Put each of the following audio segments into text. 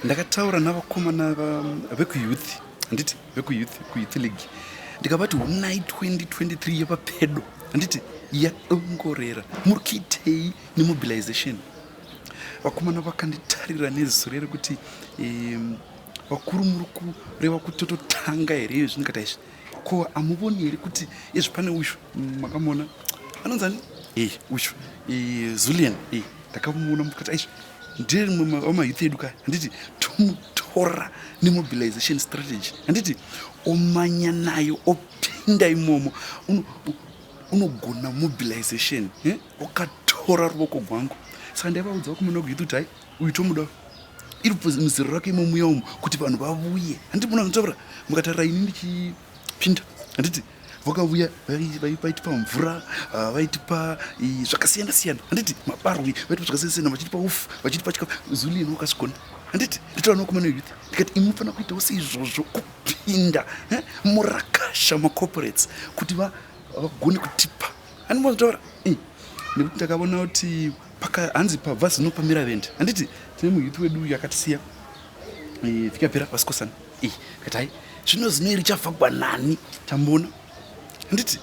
ndakataura navakomana vekuyouth handiti vekuyouth kuyouth league ndikavati unai 2023 yepapedo handiti yadongorera muri kuitei nemobilization vakomana vakanditarira nezure rekuti vakuru muri kureva kuti tototanga here iyo zvindikati aizvi Ko amuvoni here kuti izvi pane uyu mm, makamona anonzani e uyu e, Zulian e ndakamuona mukati aizvi ndiye rimwe wamayouth edu kaya handiti tomutora nemobilization strategy handiti omanya nayo opinda imomo unogona mobilization eh? wakatora ruvoko gwangu saka ndaivaudzawo kumuna kuyuti kuti hai uyu tomuda iri bvunzi muzero rake imo muya umu kuti vanhu vavuye handiti muna zvinotaura mukatarira ini ndichipinda handiti vakavuya vaitipa mvura ah, vaitipa zvakasiyana siyana handiti mabarwi vaitipa zvakasiyana siyana vachitipa ufu vachitipa chikafu zulino wakazvigona handiti nditaurana kumana youth ndikati imi mufanira kuitawo seizvozvo kupinda eh, murakasha macorporates kuti vagone kutipa handimazvitaura eh, nekuti ndakavona kuti paka hanzi pabva zino pamira vende handiti tine muyuthi wedu uyu akatisiya eh, vikapera vasikosana i eh, katai zvino zino iri chavhagwa nani tamboona handiti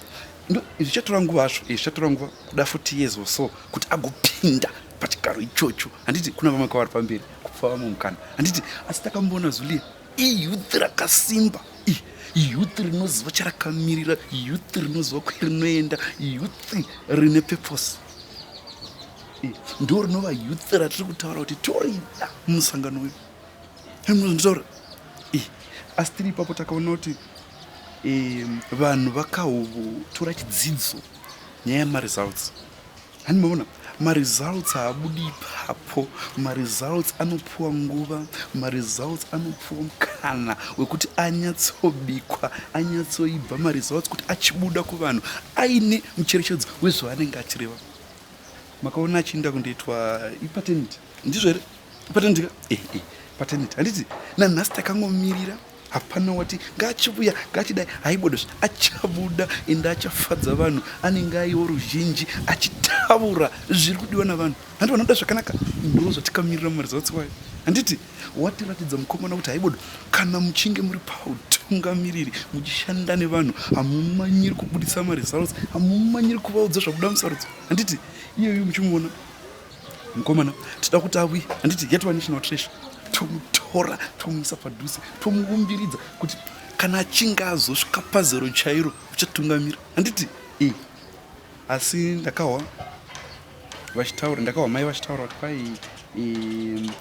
zvichatora nguva azvo eh, zvichatora nguva kuda foti years or so kuti agopinda pachigaro ichocho handiti kuna vamwe kwavari pamberi kupfa vamwe mukana handiti asi takamboona zulia iyouth rakasimba iyouth rinoziva charakamirira iyouth rinoziva kwerinoenda iyouth rine purpose ndo rinova youth ratiri kutaura kuti torida musangano uyu nditaura asi tiri ipapo takaona kuti vanhu vakahotora chidzidzo nyaya yemaresults Hani maona maresults haabudi ipapo maresults anopiwa nguva maresults anopiwa mukana wekuti anyatsobikwa anyatsoibva maresults kuti achibuda kuvanhu aine mucherechedzo wezvaanenge achireva makaona achiinda kundoitwa ipatenit ndizvo here ipatenit ka eh, eh, patenit handiti nanhasi takangomirira hapana wati ngaachivuya ngaachidai haibodo zve achabuda ende achafadza vanhu anenge aiwo ruzhinji achitaura zviri kudiwa navanhu handi vanoda zvakanaka ndozvatikamirira mumaresults wayo handiti watiratidza mukomana kuti haibodo kana muchinge muri pautungamiriri muchishanda nevanhu hamumanyiri kubudisa maresults hamumanyiri kuvaudza zvakuda musarudzo handiti iyoyo muchimuona mukomana tida kuti awi handiti get one national treasure tomutora tomuisa padhuze tomuumbiridza kuti kana achinge azosvika pazero chairo uchatungamira handiti e asi ndakahwa vachitaura ndakahwa mai vachitaura kuti kwai eh,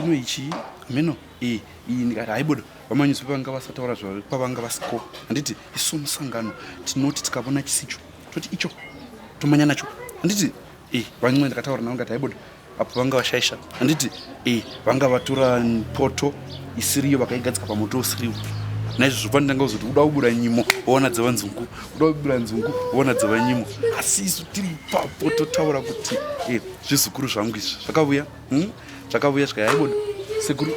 ino ichii hameno e eh, iyi ndikati haibodo vamanyuzi vevanga vasataura zvavo kwavanga vasiko handiti isu musangano tinoti tikavona chisicho toti icho tomanya nacho handiti Eh, vamwe ndakataura navo ndati haibodo apo vanga vashaisha handiti eh, vanga vatora poto isiriyo vakaigadzika pamoto usiriwo naizvozvo pani ndanga kuzoti kuda kubura nyimo woona dzeva nzungu kuda kubura nzungu woona dzeva nyimo asi isu tiri papo totaura kuti e zvizukuru zvangu izvi zvakavuya hmm? zvakavuya zvikai haibodo sekuru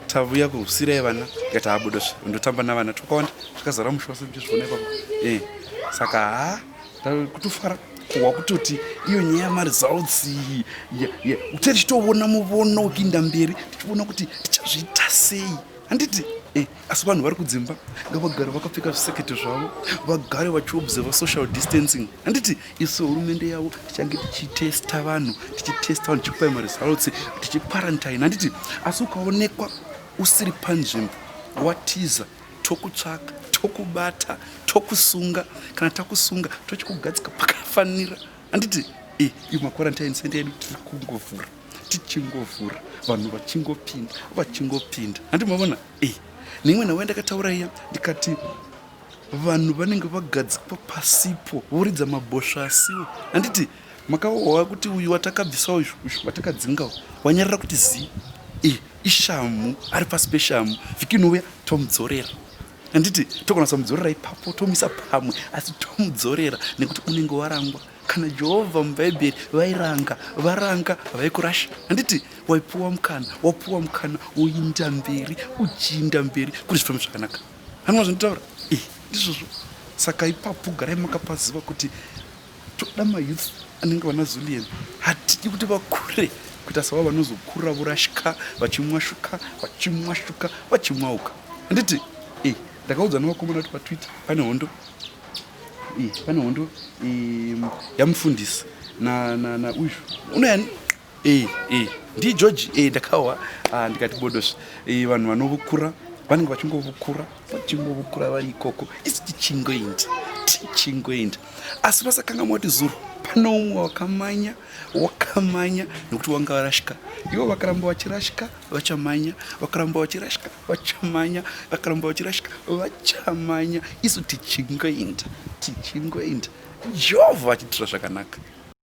tavuya kusirai vana tikati haabodozve ndotamba navana twakawanda zvakazara musha wase ndichizviona ipapo e saka haa kutofara kuhwa kutoti iyo nyaya yamaresults uchati chitoona muvono ukiinda mberi tichiona kuti tichazviita sei handiti eh, asi vanhu vari kudzimba ngavagare vakapfeka zvisekete zvavo vagare vachiobserva social distancing handiti isu hurumende yavo tichange tichitesta vanhu tichitesta vanhu tichikupai maresults tichiquarantine handiti asi ukaonekwa usiri panzvimbo watiza tokutsvaka tokubata tokusunga kana takusunga tochikugadzika pakafanira handiti e eh, iyo maquarantine center yedu tiri kungovhura tichingovhura vanhu vachingopinda vachingopinda handi mavona e eh, neimwe nhau yandakataura iya ndikati vanhu vanenge vagadzikwa pasipo voridza mabhosva asiwo handiti Makaohwa kuti uyu watakabvisa uyu watakadzinga uyu wanyarara kuti zii eh, ishamhu ari pasi peshamhu vhiki inouya tomudzorera handiti togona samudzorera ipapo tomuisa pamwe asi tomudzorera nekuti unenge warangwa kana jehovha mubhaibheri vairanga varanga vaikurasha handiti waipuwa mukana wapuwa mukana woinda mberi uchiinda mberi kuri zvifambo zvakanaka hanwa zvanditaura eh, ndizvozvo saka ipapo garai makapaziva kuti toda mayouth anenge vana zulian hatidi kuti vakure kuita sava vanozokura vorashika vachimwashuka vachimwashuka vachimwauka handiti e ndakaudzwa nevakomana kuti patwitter pane hondo e pane hondo e, yamufundisi na, na, na uyu unayani Eh, eh, ndigeorge eh, ndakawa ah, ndikati bodos eh, vanhu vanovukura vanenge vachingovukura vachingovukura vari ikoko isi tichingoenda tichingoenda asi vasakangamwa kuti zuro pane umwe wakamanya wakamanya nokuti wanga varashika ivo vakaramba vachirashika vachamanya vakaramba vachirashika vachamanya vakaramba vachirashika vachamanya isu tichingoenda tichingoenda jehovha vachitira zvakanaka